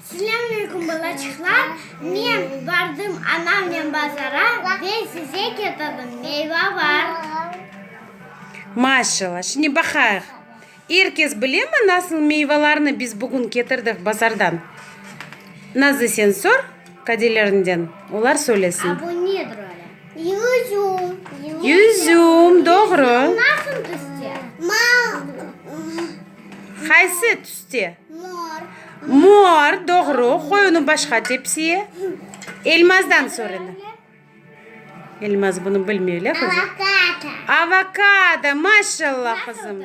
Selâmaleyküm, balaçıqlar! Men bardım anamnen bazara ve size ketirdim, meyva bar. Maşallah! Şimdi baqayıq. Er kes bilemi, nasıl meyvalarnı biz bugün ketirdik bazardan? Nazlı, sen sor, qadelerinden, olar söylesin. A, bu nedir öyle? Yüzüm. Yüzüm, doğru. Nasıl tüste? Qaysı tüste? Mor. Mor, doğru. Qoy onı başqa tepsiye. Elmazdan sor endi. Elmaz bunı bilmey, elə qızım? Avokado. Avokado, maşallah, qızım.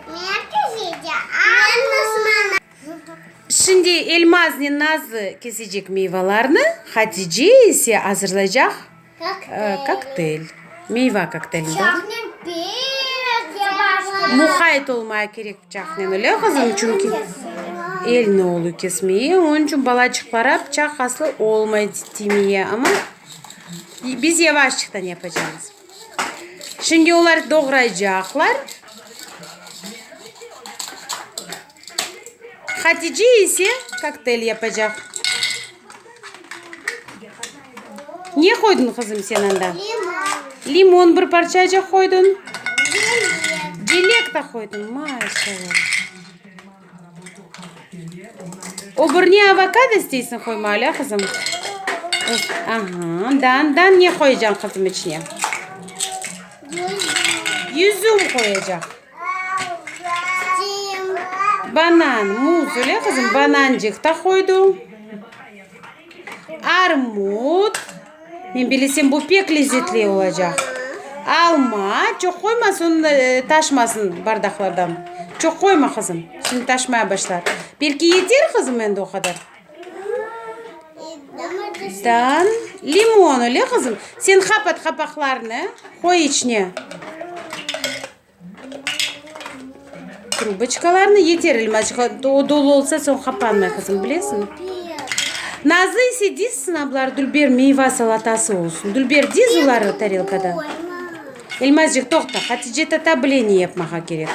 Şimdi Elmazni nazı kesecek miyvalarnı, Hatice ise azırlaycaq kokteyl, miyva kokteylini, doğru? Muhayt olmaya kerek bıçaqnen, öyle qızım? Çünki elni olu kesmeye, onıñ içün balaçıqlara bıçaq aslı olmay timeye, amma biz yavaşçıqtan yapacağımız. Şimdi olar doğraycaqlar. Hatice ise koktel yapacaq. Ne qoydun qızım sen anda? Limon. Limon bir parçacık qoydun. Dilek. Dilek de qoydun. Maşallah. Öbür ne avokado isteysiñ qoyma alâ qızım. Aha, dan, dan ne qoyacañ qızım içine? Yüzüm qoyacaq. Banan, muz, öyle qızım? Banancıq da qoydu. Armut, men bilesem bu pek lezzetli olacaq. Alma, çoq qoyma sonda taşmasın bardaqlardan. Çoq qoyma qızım, şimdi taşmaya başlar. Belki yeter qızım endi o qadar? Dan, limon, öyle qızım? Sen qapat qapaqlarını, qoy içine. Trubıçkalarnı yeterelim, azıcık o dolu olsa, soñ qapanmay, qızım, bilesiñmi? Nazlı ise diz sınablar, dülber meyva salatası olsun. Dülber, diz oları tarelkada. Elmazcıq, toqta, Hatice tata bleniye yapmağa kerek.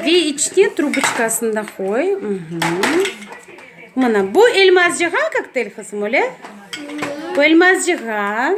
Ve içine trubıçkasını da qoy. Mına, bu Elmazcığan kokteyl, qızım, öyle? Bu Elmazcığan.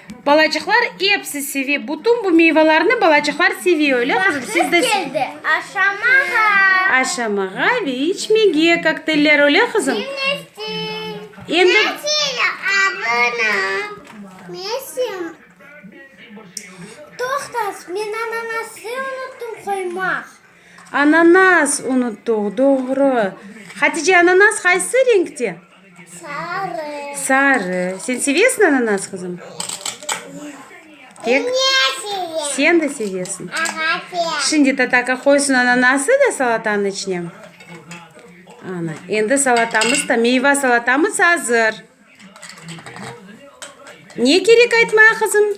Balacıqlar epsi sevi, bütün bu meyvalarnı balacıqlar sevi, öyle qızım? Siz de. Vaqtı keldi aşamağa. Aşamağa ve içmege kokteller, öyle qızım? Dinlestin. Endi. Kela abına. Mesim. Toqtas, men ananası unuttum qoymaq. Ananas unuttuq, doğru. Hatice, ananas qaysı renkte? Sarı. Sarı. Sen sevesiñ ananas, qızım? Pek. Sen de sevesiñ. Şimdi Tatarka qoysın ananası da salatanıñ içine. Ana, endi salatamız da, meyva salatamız azır. Ne kerek aytmağa, qızım?